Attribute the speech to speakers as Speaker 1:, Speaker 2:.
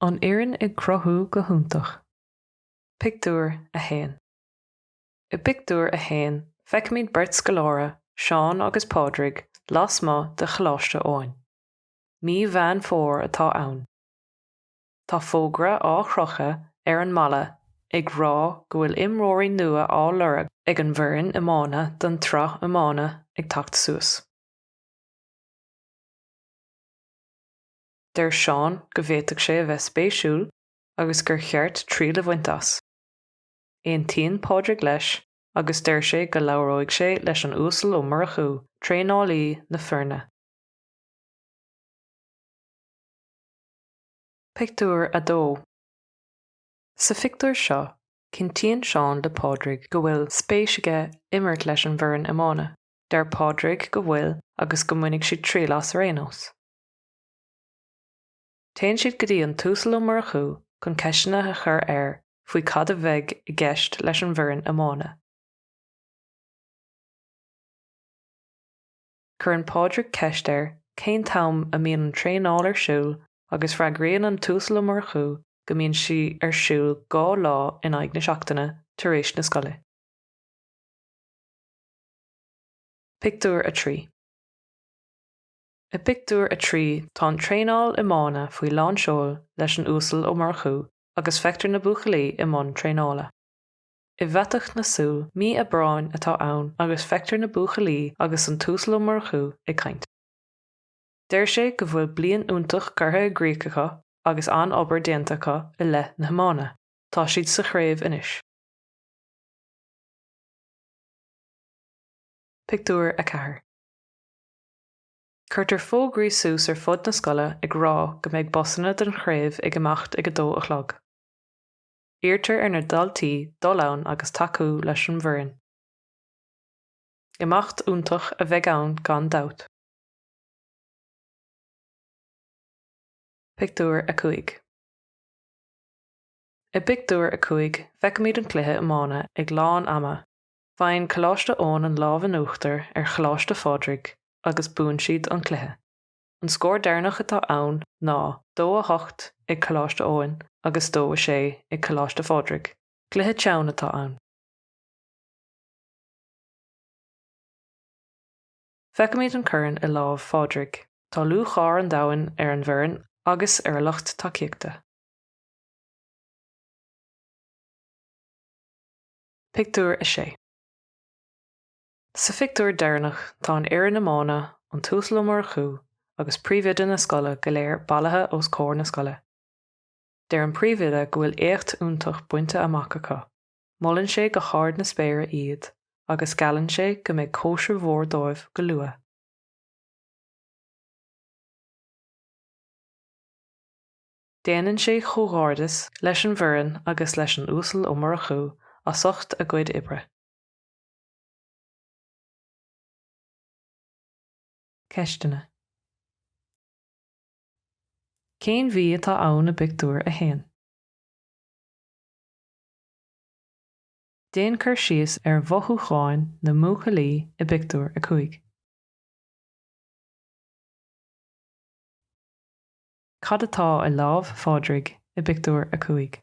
Speaker 1: An fhoireann ag cruthú go hiontach. Pictiúr 1 I bpictiúr a haon feicimid beirt scoláire, Seán agus Pádraig, lasmuigh de Choláiste Eoin. Mí Mheán Fómhair atá ann. Tá fógra á chrochadh ar an mballa ag rá go bhfuil imreoirí nua á lorg ag an bhfoireann iomána don tsraith iomána ag teacht suas. Deir Seán go bhféadfadh sé a bheith spéisiúil agus gur cheart triail a bhaint as. Aontaíonn Pádraig leis agus deir sé go labhróidh sé leis an Uasal Ó Murchú, traenálaí na foirne. Pictiúr 2 Sa phictiúr seo, cinntíonn Seán le Pádraig go bhfuil spéis aige imirt leis an bhfoireann iomána. Deir Pádraig go bhfuil agus go mbainfidh siad triail as ar aon nós. Téann siad go dtí an tUasal Ó Murchú chun ceisteanna a chur air faoi cad a bheidh i gceist leis an bhfoireann iomána. Cuireann Pádraig ceist air cén t-am a mbíonn an traenáil ar siúl agus freagraíonn an tUasal Ó Murchú go mbíonn sí ar siúl dhá lá in aghaidh na seachtaine tar éis na scoile. Pictiúr 3 I bpictiúr a trí tá an traenáil iomána faoi lán seoil leis an Uasal Ó Murchú agus feictear na buachaillí i mbun traenála. I bhfaiteadh na súl, mí Aibreáin atá ann agus feictear na buachaillí agus an tUasal Ó Murchú ag caint. Deir sé go bhfuil bliain iontach curtha i gcrích acu agus an-obair déanta acu i leith na hiomána. Tá siad sa chraobh anois. Pictiúr 4 Cuirtear fógraí suas ar fud na scoile ag rá go mbeidh busanna don chraobh ag imeacht ag a dó a chlog. Iarrtar ar na daltaí dul ann agus tacú leis an bhfoireann. Imeacht iontach a bheidh ann gan dabht. Pictiúr 5 I bpictiúr a cúig feicimid an cluiche iomána ag lán ama, faigheann Coláiste Eoin an lámh in uachtar ar Choláiste Phádraig agus buann siad an cluiche. An scór deireanach atá ann ná dó a hocht ag Coláiste Eoin agus dó a sé ag Coláiste Phádraig. Cluiche teann atá ann. Feicfimid an corn i lámh Phádraig. Tá lúcháir an domhain ar an bhfoireann agus ar a lucht tacaíochta. Pictiúr 6. Sa phictiúr deireanach tá an fhoireann iomána, an tUasal Ó Murchú agus príomhoide na scoile go léir bailithe os comhair na scoile. Deir an príomhoide go bhfuil éacht iontach bainte amach acu, molann sé go hard na spéire iad agus geallann sé go mbeidh cóisir mhór dóibh go luath. Déanann sé comhghairdeas leis an bhfoireann agus leis an Uasal Ó Murchú as ucht a gcuid oibre. Ceisteanna. Cén mhí atá ann i bpictiúr a haon? Déan cur síos ar mhothúcháin na mbuachaillí i bpictiúr a cúig. Cad atá i lámh Phádraig i bpictiúr a cúig?